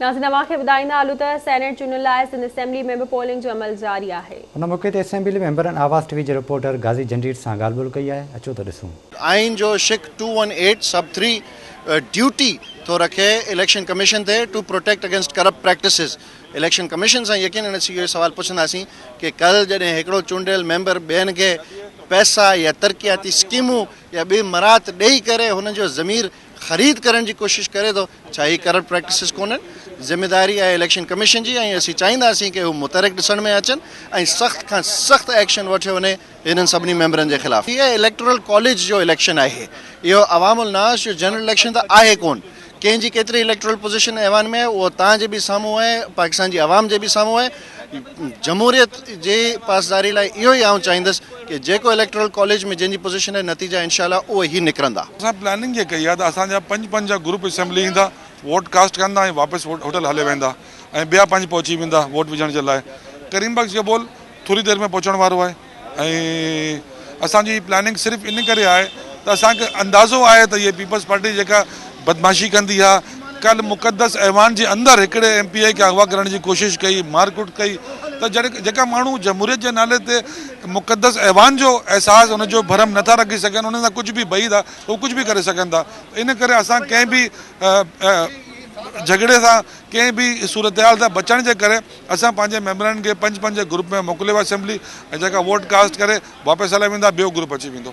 ناظرين اوهان کي ٻڌائيندا هلون ته سينيٽ چونڊن لاء سنڌ اسيمبلي ۾ به پولنگ جو عمل جاري آهي. ان موقعي تي اسيمبلي ميمبرن آواز ٽي وي جي رپورٽر غازي جنڊيٽ سان ڳالهه ٻولهه ڪئي آهي اچو ته ڏسون. آئين جو شق two one eight sub three duty ٿو رکي اليڪشن ڪميشن تي to protect against corrupt practices election commission سان يقين اڻ اسين اهو سوال پڇنداسين ڪي ڪل جڏهن هڪڙو چونڊيل ميمبر ٻين کي پئسا يا ترقياتي سڪيمون يا ٻي مراعت ڏئي ڪري هن جو ضمير خريد ڪرڻ جي ڪوشش ڪري ٿو ڇا هي ڪرپٽ پريڪٽسز ڪونهن ذميواري آهي اليڪشن ڪميشن جي ۽ اسين چاهينداسين ڪي هو متحرڪ ڏسڻ ۾ اچن ۽ سخت کان سخت ايڪشن وٺيو وڃي هنن سڀني ميمبرن جي خلاف هي اليڪٽورل ڪاليج جو اليڪشن آهي اهو عوام الناس جو جنرل اليڪشن ته آهي ڪون ڪنهن جي ڪيتري اليڪٽورل پوزيشن ايوان ۾ آهي اهو تان جي به سامهون آهي پاڪستان جي عوام جي به سامهون آهي جمهوريت جي پاسداري لاء اهو ئي آئون چاهيندس ڪي جيڪو اليڪٽورل ڪاليج ۾ جنهن جي پوزيشن آهي نتيجا انشاء الله اهي ئي نڪرندا. اسان پلاننگ جي ڪئي آهي ته اسان جا پنج پنج جا گروپ اسيمبلي ايندا ووٽ ڪاسٽ ڪندا ۽ واپس هوٽل هلي ويندا ۽ ٻيا پنج پهچي ويندا ووٽ وجهڻ جي لاء ڪريم بخش جبول ٿوري دير ۾ پهچڻ وارو آهي. ۽ اسان جي پلاننگ صرف ان ڪري آهي ته اسان کي اندازو آهي ته هي پيپلز پارٽي جيڪا بدمعاشي ڪندي ها ڪل مقدس ايوان جي اندر هڪڙي ايم پي اي کي اغوا ڪرڻ جي ڪوشش ڪئي مار ڪٽ ڪئي ته جڏهن جيڪا ماڻهو جمهوريت جي نالي تي مقدس ايوان جو احساس ان جو ڀرم نه ٿا رکي سگهن ان سان ڪجهه به بعيد آهي ته هو ڪجهه به ڪري سگهن ٿا ان ڪري اسان ڪنهن به جهڳڙي سان ڪنهن به صورتحال سان بچڻ جي ڪري اسان پنهنجي ميمبرن کي پنج پنج گروپ ۾ موڪليو ويو اسيمبلي ۽ جيڪا ووٽ ڪاسٽ ڪري واپس هليا ويندا ٻيو گروپ اچي ويندو.